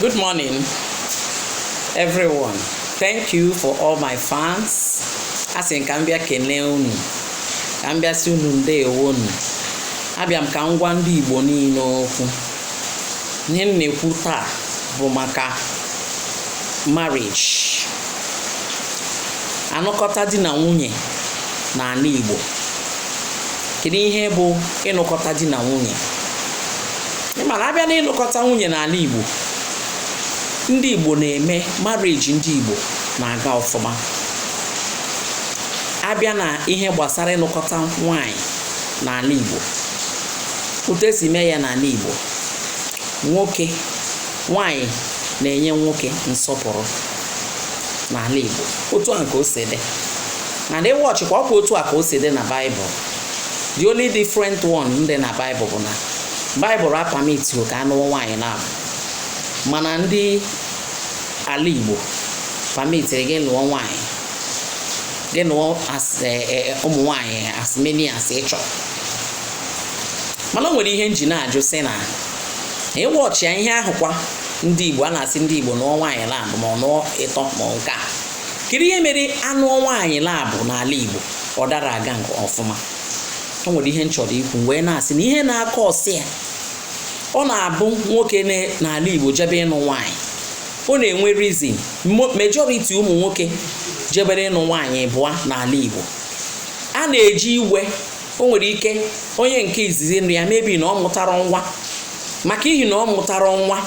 Good morning, everyone. Thank you for all my fans. Asị m ka m bịa kelee unu, ka m bịa sị unu ndeewo nụ. Abịa m ka m gwa ndị Igbo niile okwu. Ihe m na-ekwu taa bụ maka marriage. Anụkọta di na nwunye n'ala Igbo. Kedu ihe bụ ịnụkọta di na nwunye? mana a bịa na ịnụkọta nwunye n'ala Igbo ndị Igbo na-eme marriage ndị Igbo na-aga ọfụma a bịa na ihe gbasara ịnụkọta nwanyị n'ala Igbo otu e si eme ya n'ala Igbo nwoke nwanyị na-enye nwoke nsọpụrụ n'ala Igbo otu a ka o si dị na ị watch kwa ọ kwa otu a ka o si dị na baịbụl the only different one dị na baịbụl bụ na baịbụl apamitirọ ka a nụọ nwaanyị naabọ mana ndị ala igbo pamitiri gị nụọ nwaanyị gị nụọ e, e, ụmụ nwaanyị as many as ị chọrọ mana o nwere ihe m ji na-ajụ sị na ị watchịa ihe ahụkwa ndị igbo a na-asị ndị igbo nụọ nwaanyị naabọ ma ọ nụọ ịtọ ma nke a kedu ihe mere a nụọ nwaanyị naabọ n'ala Igbo ọ dara aga nke ọfụma o nwere ihe m chọrọ ikwu wee na-asị na ihe na-acause ya ọ na-abụ nwoke n'ala Igbo jebe ịnụ nwaanyị ọ na-enwe reason majority ụmụ nwoke jebere ịnụ nwaanyị ịbụa n'ala Igbo a na-eji iwe o nwere ike onye nke izizi nri ya mebi na ọ mụtara nwa maka ihi na ọ mụtara nwa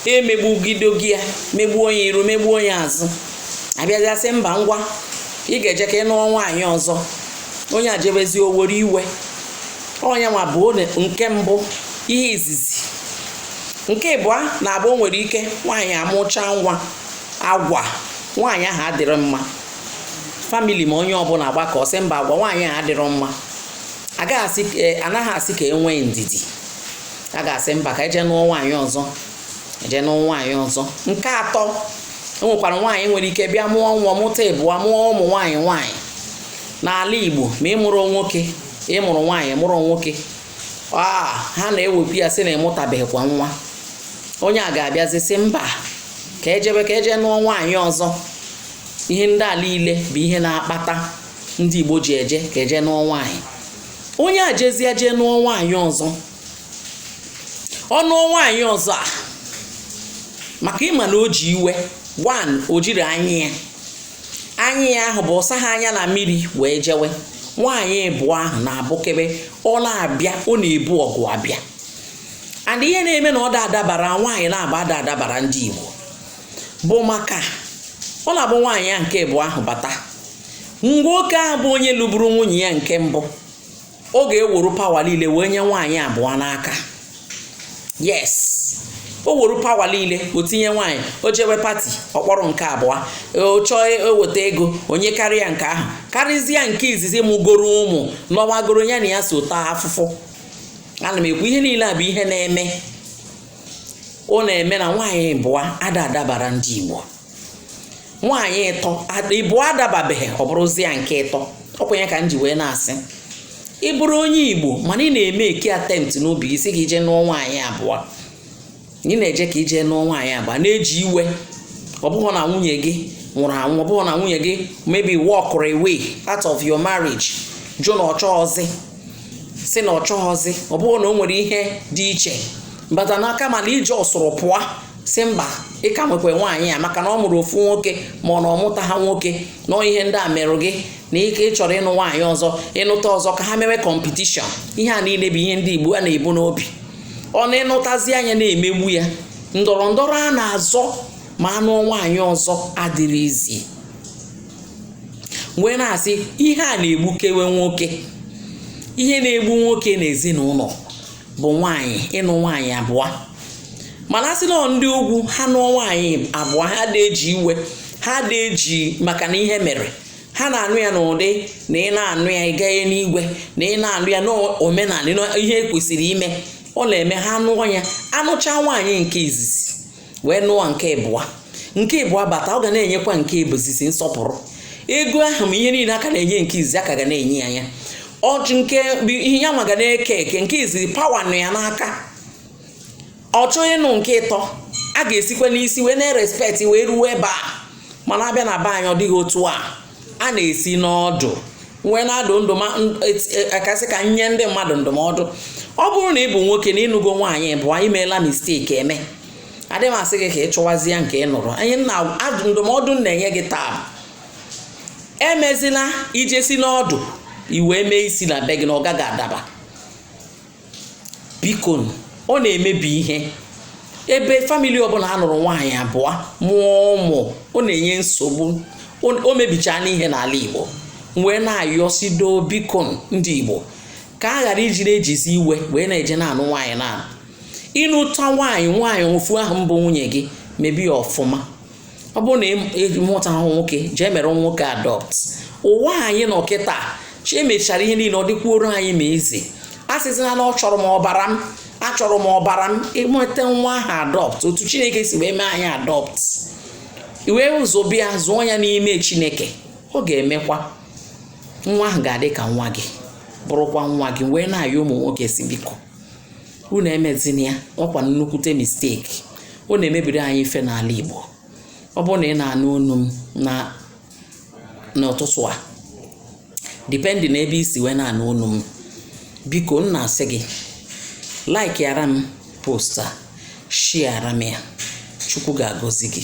emegbugidogi ya megbuo ya iru megbuo ya azụ a bịazịa sị mba ngwa ị ga-eje ka ị nụọ nwaanyị ọzọ onye a jebezi o were iwe onye nwa bụ nke mbụ ihe izizi nke ịbụa na-abụ o nwere ike nwaanyị amụchaa nwa agwa nwaanyị ahụ adịrọ mma family ma onye ọbụla agbakọ sị mba agwa nwaanyị ahụ adịrọ mma agaghị asị ka e, anaghị asị ka e nwee ndidi a ga-asị mba ka e je nụọ nwaanyị ọzọ e je nụọ nwaanyị ọzọ nke atọ o nwekwara nwaanyị nwere ike bịa mụọ nwa mụta ịbụa mụọ ụmụ nwaanyị nwaanyị n'ala Igbo ma ị mụrọ nwoke ị mụrụ nwaanyị mụrụ nwoke a ha na-ewe ya sị na ị mụtabeghịkwa nwa onye a ga-abịazi sị mba ka e jebe ka e je nụọ nwaanyị ọzọ ihe ndị a niile bụ ihe na-akpata ndị Igbo ji eje ka e je nụọ nwaanyị onye a jezie jee nụọ nwaanyị ọzọ ọ nụọ nwaanyị ọzọ a maka ịma na o ji iwe one o jiri anya ya anya ya ahụ bụ ọ saha anya na mmiri wee jewe nwaanyị ịbụa ahụ na-abụkebe ọ na-abịa ọ na-ebu ọgụ abịa and ihe na-eme na ọ da adabara nwaanyị naabọ ada adabara ndị Igbo bụ maka ọ na-abụ nwaanyị ya nke ịbụa ahụ bata nwoke ahụ bụ onye lụburu nwunye ya nke mbụ ọ ga-ewuru power niile wee nye nwaanyị abụọ n'aka yes o wuru power niile o tinye nwaanyị o jewe party ọ kpọrọ nke abụọ ọ chọọ eweta ego o nyekarịa nke ahụ karịzie nke izizi mụgoro ụmụ nọwagoro ya na ya so taa afụfụ ana m ekwu ihe niile a bụ ihe na-eme ọ na-eme na nwaanyị ịbụa ada adabara ndị Igbo nwaanyị ịtọ ịbụa adababeghị ọ bụrụzie nke ịtọ ọkwenye ka m ji wee na-asị ị bụrụ onye Igbo mana ị na-emake attempt n'obi gị sị ka i je nụọ nwaanyị abụọ ị na-eje ka i je nụọ nwaanyị abụọ na-eji iwe ọ bụghị na nwunye gị nwụrụ anwụ ọ bụghị na nwunye gị maybe walk away out of your marriage jụ na ọ chọghọzi sị na ọ chọghọzi ọ bụghị na o nwere ihe dị iche bata n'aka mana ije ọsụrụ pụọ sị mba ị ka nwekwa nwaanyị a maka na ọ mụrụ ofu nwoke ma ọ na ọ mụtaha nwoke na ihe ndị a merụ gị like ị chọrọ ịnụ nwaanyị ọzọ ịnụta ọzọ ka ha mewe competition ihe a niile bụ ihe ndị Igbo a na-ebu n'obi ọ na ị nụtazia ya na-emegbu ya ndọrọ ndọrọ a na-azọ ma a nụọ nwaanyị ọzọ adịrị easy wee na-asị ihe a na-egbukewe nwoke ihe na-egbu nwoke n'ezinụlọ bụ nwaanyị ịnụ nwaanyị abụọ mana a sị na ndị ugwu ha nụọ nwaanyị abụọ ha da eji iwe ha da eji maka na ihe mere ha na-anụ ya n'ụdị na ị na-anụ ya ị gaghị n'iwe na ị na-anụ ya n'omenala ihe e kwesịrị ime ọ na-eme ha nụọ ya a nụcha nwaanyị nke izizi wee nụọ nke ịbụa nke ịbụa bata ọ ga na-enyekwa nke izizi nsọpụrụ ego ahụ ma ihe niile a ka na-enye nke izizi a ka ga na-enye ya ya ọchị nke ihe ya nwa ga na-eke eke nke izizi power nọ ya n'aka ọ chọọ ịnụ nke ịtọ a ga-esikwa n'isi wee na-erespect wee ruo ebe a mana a bịa na be anyị ọ dịghị otu a a na-esi n'ọdụ wee na-adụ ndụ ma akasị e, ka nye ndị mmadụ ndụmọdụ ọ bụrụ na ị bụ nwoke na ị nụgo nwaanyị ịbụa na i meela mistake eme adịghị m asị gị ka ị chụwazie nke ị nụrụ anyị na ndụmọdụ m na-enye gị taa emezila ije si n'ọdụ i wee mee isi na be gị na ọ gaghị adaba biko ọ na-emebi ihe ebe family ọbụla a nụrụ nwaanyị abụọ mụọ ụmụ ọ na-enye nsogbu o mebichana ihe n'ala Igbo m wee na-ayọsido biko ndị Igbo ka a ghara ijiri ejizi iwe wee na-eje na-anụ nwaanyị na ị nụta nwaanyị nwaanyị ofu ahụ bụ nwunye gị mebe ya ọfụma ọ bụrụ na ị mụtahụ nwoke jee mere nwoke adopt ụwa anyị nọ kịta chi emechara ihe niile ọ dịkwuoro anyị ma easy asịzina na achọrọ m ọbara m achọrọ m ọbara m i nweta nwa ahụ adopt otu chineke si wee mee anyị adopt i wee zụọ bịa zụọ ya n'ime chineke ọ ga-emekwa nwa ahụ ga-adị ka nwa gị bụrụkwa nwa gị m wee na-ayọ ụmụ nwoke sị biko unu emezina ya ọkwa nnukwute mistake ọ na-emebiri anyị ife n'ala Igbo ọ bụrụ na ị na-anụ onu m n'ụtụtụ a depend na ebe i si wee na-anụ onu m biko m na-asị gị like yara m post a shiara m ya chukwu ga-agọzi gị